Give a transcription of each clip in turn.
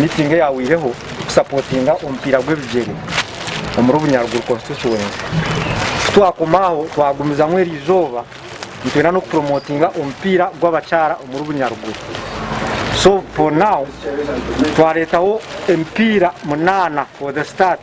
Meeting eyahweireho kusapotinga omupiira gw'ebigyere omuri Obunyaruguru Constituency. Kutwakoma aho twagumizamu eri izooba nitwenda n'okupromotinga omupiira gw'abakyara omuri Bunyaruguru. So for now twareetaho emipiira munaana for the start.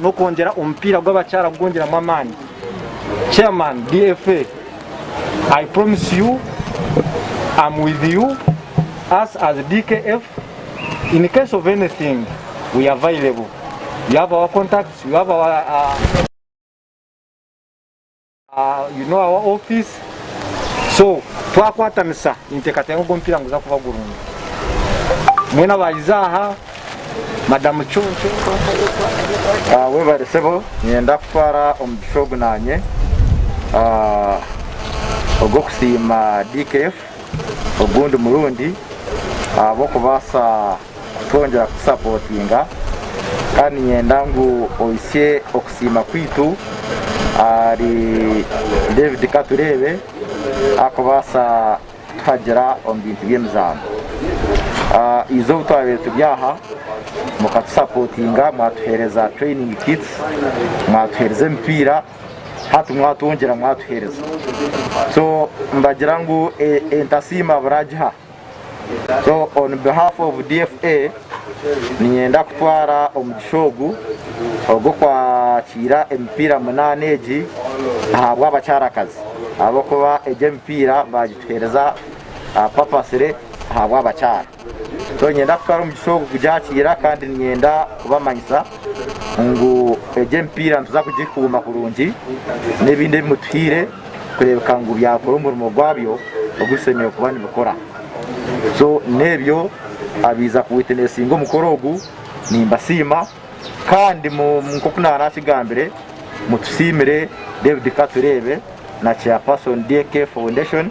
n'okwongyera omupiira gw'abakyara kugwongyeramu amaani Chairman DFA I promise you am with you us as DKF in case of anything we available you have our contacts you have our You know our office so twakwatanisa ninteekateeka ngu omupiira niguza kuba gurungi mwena abaayiza aha madamu conco ah, webare sebo nyenda kutwara omugisha ogu nanye ah, ogw'okusiima dkf ogundi murundi ahabw'okubaasa kutwongyera kutusapotinga kandi niinyenda ngu ohisye okusiima kwaitu ahari David Katureebe arikubaasa kutuhagira omu bintu by'emizaano. Eizooba obu twabaire turi aha mukatusapotinga mwatuheereza training kits, mwatuheereza emipiira hati mwatwongyera mwatuheereza so mbagira ngu entasiima buraagihaho. So on behalf of DFA ninyenda kutwara omugisha ogu ogw'okwakiira emipiira munaana egi ahabw'abakyarakazi ahabw'okuba egi emipiira baagituheereza ah, purposely ahabw'abakyara. So ninyenda kutwara omugisha ogu kugyakiira kandi ninyenda kubamanyisa ngu egi emipiira nituza kugikuuma kurungi n'ebindi ebi mutuhaire kureebeka ngu byakora omurimo gwabyo ogu bishemereire kuba nibikora. So n'ebyo abaiza ku witinesinga omukoro ogu nimbasiima kandi mu nk'oku naara akigambire mutusiimire David Katureebe na Chairperson DK Foundation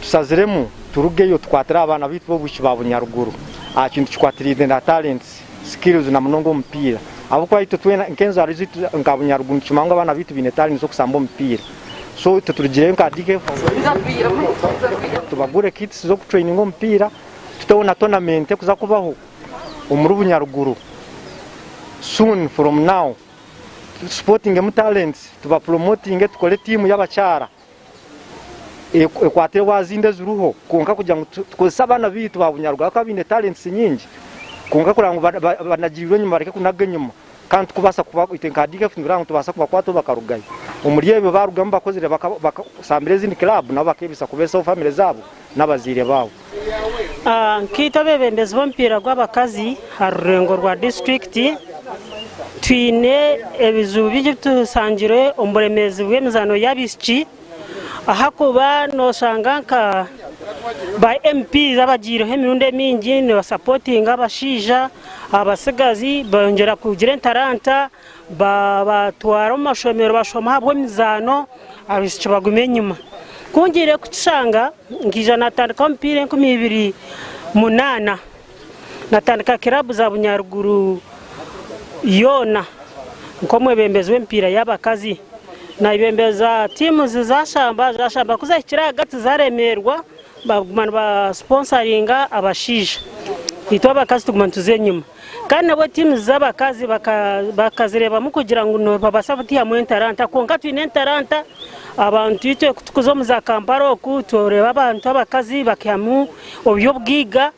Tusaziremu turugeyo tukwatire abaana baitu b'obwishiki ba bunyaruguru aha kintu kikwatiraine na talents, skills na munonga omupiira ahabw'okuba itwe twena nk'enzaaro zaitu nka bunyaruguru nitukimanya ngu abaana baitu baine talents z'okusamba omupiira so itwe turugireyo nka DK Force tubagure kits z'okutraininga omupiira tuteho na tournament ekuza kubaho omuri bunyaruguru soon from now tusportingemu talents tubapromotinge tukore tiimu y'abakyara. ekwatire wa zindi eziriho kwonka kugira ngu tukozese abaana baitu ba bunyarugaba ahabw'okuba baine talents nyingi kwonka kureba ngu banagirirwe enyima bareke kunaga enyima kandi turikubaasa twaite nka DFF nitureeba ngu nitubaasa kubakwataho bakarugayo. Omuri ebyo baarugamu bakozire, baasambire ezindi club nabo bakeebisaho kubeesaho famire zaabo. n'abazaire baabo. A Nkaitwe abeebembezi b'omupiira gw'abakazi aha rurengo rwa disiturikiti, twine ebizibu bingi ebi tusangire omu buremeezi bw'emizaano y'abaishiki, ahakuba nooshanga nka ba MP abagyireho emirundi emingi nibasapotinga abashaija, abatsigazi, beyongyera kugira entaranta, Baabatwara omu mashomero bashoma ahabw'emizaano abaishiki baguma enyima. Ku ngiire kukishanga nkaija natandika omupiira enkumi ibiri munaana. Natandika kiraabu za Bunyaruguru yoona nk'omwebembezi w'emipiira y'abakazi. Nabembeza tiimu zi zaashamba, zaashamba ku zahikire ahagati zaaremeerwa baguma nibasiponsaringa abashaija, itwe abakazi tuguma nituza enyima. Kandi nabwo tiimu z'abakazi bakazireebamu kugira ngu nibabaasa kutihamu entaranta. Kwonka twine entaranta abantu itwe kutukuza omu za Kampala oku tworeeba abantu abakazi bakihamu oby'obwiga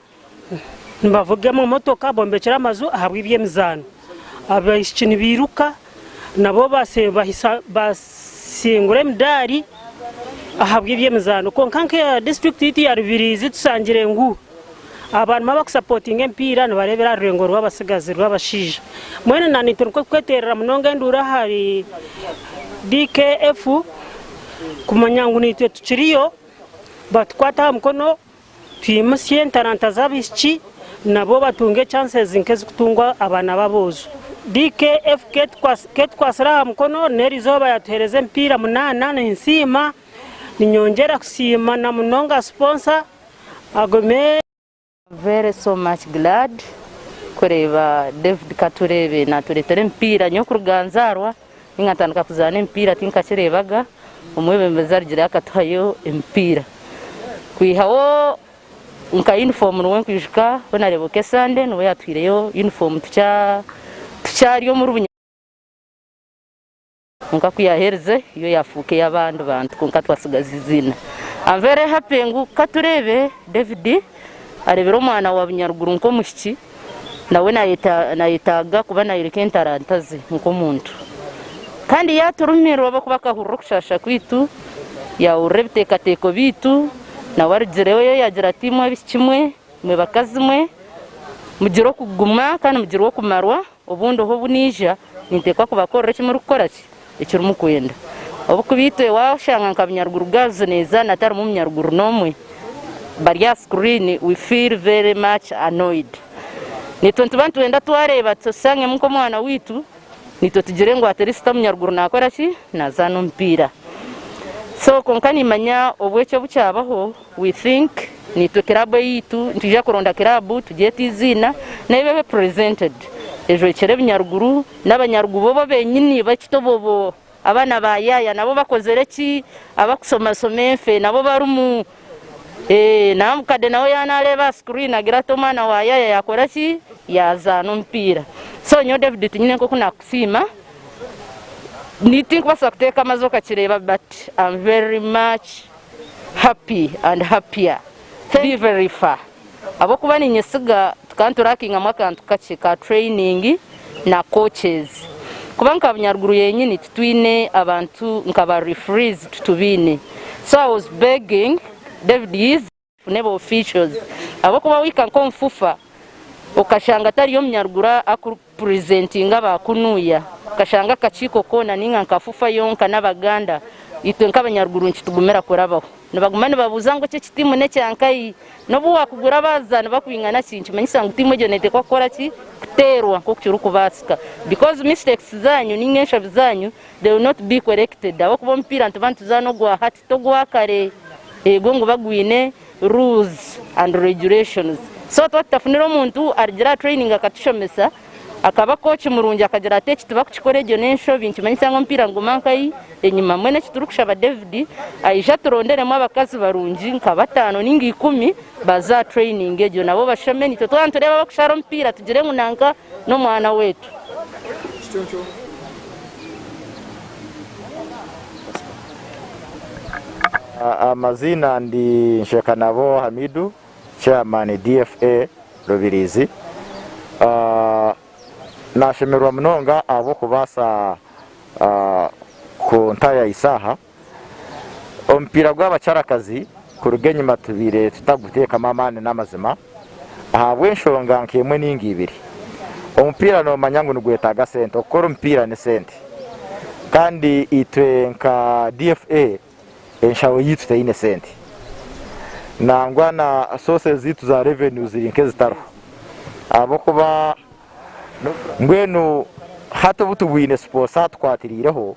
nibavuga emotoka, bombekyera amaju ahabw'eby'emizaano. Abaishiki nibairuka. Nabo baasingura emidaari ahabw'eby'emizaano kwonka nk'eya disiturikiti yaitu ya Rubiriizi tushangire ngu abarimu abakusapotinga emipiira nibareebera aha rureengo rw'abatsigazi rw'abashaija mbwenu na naitwe nikwo kukweterera munonga enduuru ahari DKF kumanya ngu naitwe tukiriyo batukwate aha mukono Twimutsye entaranta z'abaishiki nabwo batunge ekyasezi nk'ezikutungwa abaana b'aboojo. DK, FK, Ketukwatsire aha mukono n'eri izooba yatuhereza emipiira munaana, ninsiima. Ninyongyera kusiima na munonga siponsa Agome. Very so much glad kureeba David Katureebe natureetera emipiira nyokuruga nzaarwa. Nkatandika kuzaana emipiira tinkakireebaga, omwebembezi arugire akatuhayo emipiira. Kwihaho nka yunifoomu nibwo nkwijuka ku naareeba Okee Sande nibwo yaatuhaireyo yunifoomu tukyari omuri bunyatsi. Kwonka ku yaaherize yo yaafuuka ey'abandi bantu kwonka twatsigaza eiziina. Am very happy ngu ka tureebe David areebire omwana wa Bunyaruguru nk'omwishiki. Nawe naayetaaga kuba naayoreka entaranta ze nk'omuntu. Kandi yaaturumirwa ahabw'okuba akahurira okushaasha kwaitu, yaahurira ebiteekateeko byaitu. Nawe arugireyo yaagira ati, Imwe abaishiki mwe, imwe bakazi mwe, mugire okuguma kandi mugirwe okumarwa. Obundi oha obu naija, ninteekwa kubakorera eki murikukora ki eki murikwenda. Obukuba itwe waashanga nka Bunyaruguru Girls neeza na tarimu Munyaruguru n'omwe, bari aha screen, we feel very much annoyed. Naitwe nituba nitwenda twareeba tushangemu nk'omwana waitu, naitwe tugire ngu at least Omunyaruguru naakora ki, naazaana omupiira. So kwonka niimanya obu eki obu kyabaho, We think niitwe kiraabu eyaitu, nitwija kuronda kiraabu tugyete eiziina neiba ebe presented ejwekyere ebinyaruguru n'abanyaruguru bobo benyini baitu tobobo abaana ba yaaya nabo bakozere ki abakusomasoma enfe nabo barimu eeh namukade nawe ya nareeba aha screen agira ati omwana wa yaaya yakora ki yazaana omupiira so nyowe David tinyine nkoku nakusiima ni tinkubasa kuteeka amazi okakireeba but am very much happy and happier be very far ahabwokuba ninyesiga tukanturackingamu akantu kakye ka training na coaches kuba nka bunyaruguru yenyini titwine abantu nka ba refrees titubaine so I was begging David yiza Fune ba officials ahabwokuba wahika nk'omu FUFA okashanga tariyo omunyaruguru akuri presentinga ba kunuya okashanga akakiiko koona ninga nka FUFA yonka n'abaganda itwe nk'abanyaruguru nikitugumira kurabaho nibaguma nibabuuza ngu eki eki tiimu n'ekya nkai n'obu wakugura abazaani bakwingana ki nikimanyisa ngu tiimu egyo neteekwa kukora ki kuteerwa nk'oku kirikubaasika because mistakes zaanyu ninga enshobi zaanyu They will not be corrected ahabw'okuba omupiira nituba nituzaana ogwa hati togwa kare. Eego niguba gwine rules and regulations. So tuba tutafunire omuntu arigira aha training akatushomesa, akaba coach murungi akagira ati eki tibakukikora egyo n'enshobi nikimanyisa ngu omupiira niguma nkai enyima. Mbwenu eki turikushaba David aije aturonderemu abakazi barungi nka bataano ninga ikumi baze aha training egyo nabo bashome. Naitwe twaba nitureeba abakushara omupiira tugire ngu nanka n'omwana wetu. Amaziina ndi Nshekanabo Hamidu, Chairman DFA Rubirizi. Nashemererwa munonga ahabw'okubaasa kuntaayaayisa aha. Omupiira gw'abakyarakazi kuruga enyima tubaire tutaguteekamu amaani n'amazima ahabw'enshonga nk'emwe nainga ibiri. Omupiira noomanya ngu nigwetaaga sente, okukora omupiira ni sente kandi itwe nka DFA enshaho yaitu teine sente nangwa na sources zaitu za revenue ziri nk'ezitariho ahabw'okuba mbwenu hati obu tibwine sponsor atukwatiraireho,